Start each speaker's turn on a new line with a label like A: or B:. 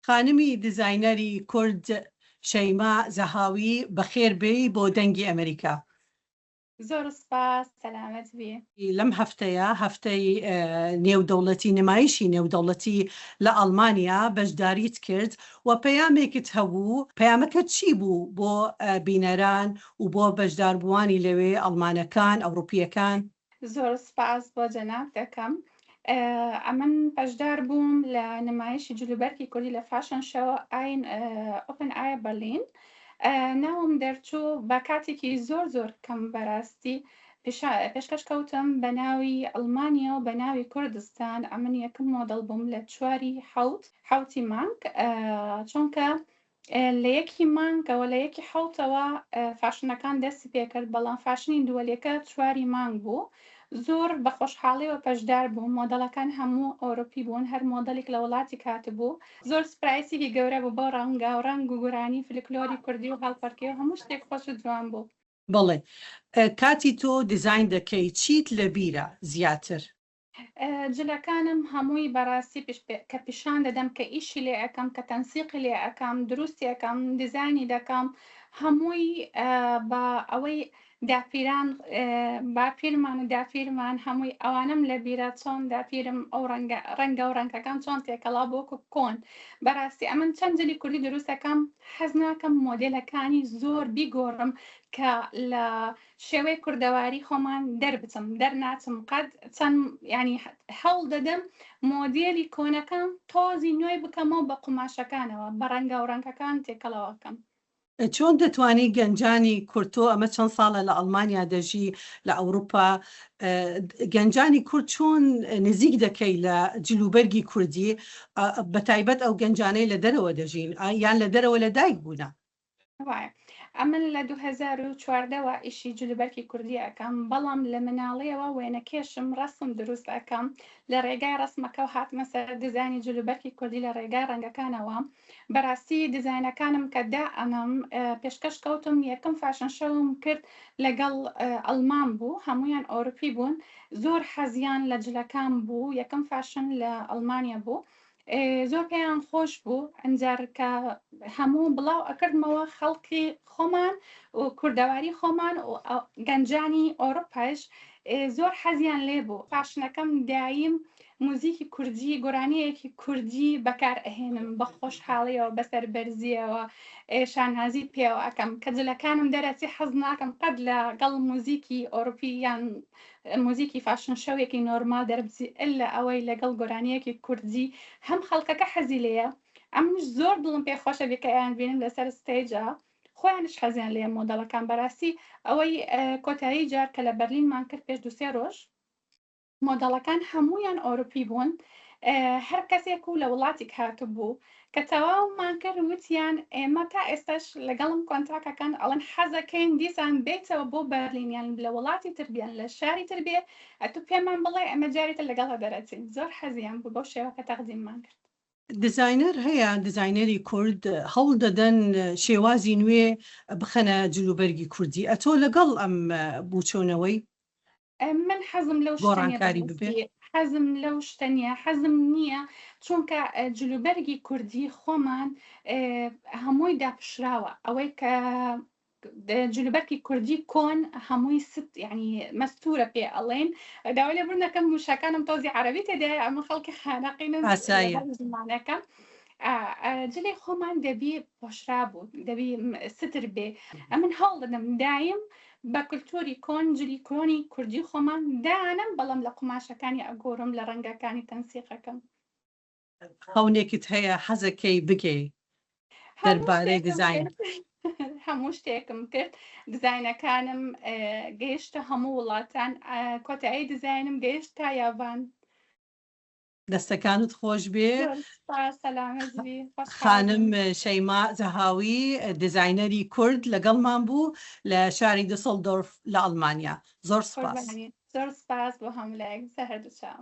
A: خانمی دیزاینەری کورد شەیما زەهاوی بەخێر بێی بۆ دەنگی ئەمریکا. زۆر
B: سوپاس سەلامەت بی. لەم هەفتەیە
A: هەفتەی نێودەوڵەتی نمایشی نێودەوڵەتی لە ئەڵمانیا بەشداریت کرد و پەیامێکت هەبوو پەیامەکە چی بوو بۆ بینەران و بۆ بەشداربووانی لەوێ ئەڵمانەکان ئەوڕوپیەکان؟ زۆر
B: سپاس بۆ جەناب دەکەم. ئەمن بەشدار بووم لە نمایشی جلوبەرکی کوردی لە فاشن شەو ئاین ئۆپن ئایا بەرلین ناوم دەرچوو بە کاتێکی زۆر زۆر کەم بەراستی پێشکەش کەوتم بە ناوی ئەڵمانیا و بە ناوی کوردستان ئەمن یەکم مۆدەڵ بووم لە چواری حوت حوتی مانگ چونکە لە یەکی مانگەوە، لە یەکی حەوتەوە فاشنەکان دەستی پێکرد، بەڵام فاشنی دووەلیەکە چواری مانگ بوو. زۆر بە خۆشحاڵیەوە پەشدار بووم، مۆدەڵەکان هەموو ئەورۆپی بوون، هەر مۆدەلیک لە وڵاتیک هاتبوو. زۆر سپرایسیکی گەورە بوو بۆ ڕەنگاو ڕەنگ و گورانی فلکلۆری کوردی و هەڵپەرکێ و هەموو شتێک خۆش و جوان بوو. بەڵێ
A: کاتی تۆ دیزاین دەکەی چیت لەبیرە زیاتر؟
B: جلەکانم هەمووی بەڕاستی پشت پێ کە پیشان دەدەم کە ئیشی لێ ئەکەم کە تەنسیقی لێ ئەکەم دروستی ئەکەم دیزاینی دەکەم هەمووی بە ئەوەی داپیران باپیرمان و داپیرمان هەمووی ئەوانەم لە بیرە چۆن داپیرم ئەو ڕەنگە ڕەنگە و ڕەنگەکان چۆن تێکەڵا بۆکو کۆن بەڕاستی ئەمن چەند جلی کوردی دروستەکەم حەز ناکەم مۆدلەکانی زۆر بیگۆڕم کە لە شێوەی کوردەواری خۆمان دەربچم دەرناچم قەت چەند یانی هەوڵ دەدەم مۆدێلی کۆنەکان تۆزی نوێی بکەمەوە بە قوماشەکانەوە بە ڕەنگاو ڕەنگەکان تێکەڵەوە بکەم. چۆن
A: دەتوانی گەنجانی کورد تۆ ئەمە چەند ساڵە لە ئەڵمانیا دەژی لە ئەوروپا گەنجانی کورد چۆن نزیک دەکەی لە جلوبەرگی کوردی بەتایبەت ئەو گەنجانەی لە دەرەوە دەژین یان لە دەرەوە لە دایک بوونە وایە
B: ئەمن لە دوو هەزار و چواردە وە ئیشی جلوبەرکی کوردی ئەکەم بەڵام لە مناڵیەوە وێنەکێشم ڕەسم دروست ئەکەم لە ڕێگای ڕەسمەکەو هاتمە سەر دیزاینی جلوبەرکی کوردی لە ڕێگای ڕەنگەکانەوە بەراستی دیزاینەکانم کە دا ئەنم پێشکەش کەوتم یەکەم فاشن شەوم کرد لەگەڵ ئەڵمان بوو هەمویان ئۆروپی بوون زۆر حەزیان لە جلەکان بوو یەکەم فاشن لە ئەڵمانیا بوو زۆر پێیان خۆش بوو ئەنجار کە هەموو بڵاو ئەکردمەوە خەڵکی خۆمان و کوردەواری خۆمان و گەنجانی ئۆروپاش زۆر حەزیان لێ بوو پاشنەکەم دایم موزیکی کوردی گۆرانیەکی کوردی بەکار ئەهێنم بە خۆشحاڵیەوە بەسەر بەرزیەوە شانازی پێوە ئەەکەم کە جلەکانم دەرەچی حەز ناکەم قەت لە گەڵ موزیکی ئۆروپی یان موزیکی فاشن شەوێکی نۆرمال دەربچی الا ئەوەی لەگەڵ گۆرانیەکی کوردی هەم خەڵکەکە حەزی لێیە ئەمنیش زۆر دڵم پێ خۆشە بیکایان بینم لەسەر ستەیجا خۆیانیش حەزیان لێیە مۆدەڵەکان بەراستی ئەوەی کۆتایی جار کە لە بەرلینمان کرد پێش دوو سێ ڕۆژ مۆدەڵەکان هەموویان ئۆروپی بوون هەر کەسێک و لە وڵاتیک هاتبوو کە تەواومان کرد وتیان ئێمە تا ئێستاش لەگەڵم کۆنتاک ئەکەن ئەڵێن حەزەکەین دیسان بێیتەوە بۆ بەرلین یان لە وڵاتی تر بیان لە شاری تر بێ ئەتو پێمان بڵێ ئێمە جاری تر لەگەڵ دەرەچین زۆر حەزیان بوو بەو شێوە کە تەقدیممان کرد. دیزاینەر
A: هەیە دیزاینەری کورد هەوڵ دەدەن شێوازی نوێ بخەنە جلوبەرگی کوردی ئەتۆ لەگەڵ ئەم بوچۆنەوەی؟ من حەزم لەو
B: شتە نیە گۆڕانکاری بەڕاستی ببێ؟ حەزم لەو شتە نیە حەزم نیە چونکە ئە، جلوبەرگی کوردی خۆمان ئە، هەمووی داپشراوە ئەوەی کە د- جلوبەرگی کوردی کۆن هەمووی ست یعنی مەستورە پێ ئەڵێن داوای لێبوردن دەکەم وشەکانم تۆزی عەرەبی تێدایە ئەمن خەڵکی خانەقینم ئاسایە. لەبەر زمانەکەم ئا، ئە، جلی خۆمان دەبی پۆشرابوو دەبی م، ستر بێ ئەمن هەوڵ دەدەم دایم بە کلتوری کۆن جلی کۆنی کوردی خۆمان دانم بەڵام لە قوماشەکانی ئەگۆرم لە ڕەنگەکانی تەنسیقەکەم.
A: خەونێکت هەیە حەزەکەی بگێی دەربارەی دیزاین؟ هەموو
B: شتێکم کرد دیزاینەکانم گەیشتە هەموو وڵاتان کۆتایی دیزاینم گەیشت تا یابان. دەستەکانت
A: خۆشبێ خانم شەیما زەهاوی دیزاینەری کورد لەگەڵمان بوو لە شاری دسڵ دۆرف
B: لە
A: ئەڵمانیا زۆر
B: سپاس زۆر
A: سپاس
B: بۆ
A: هەموو
B: لایەک
A: سەهردووچاو.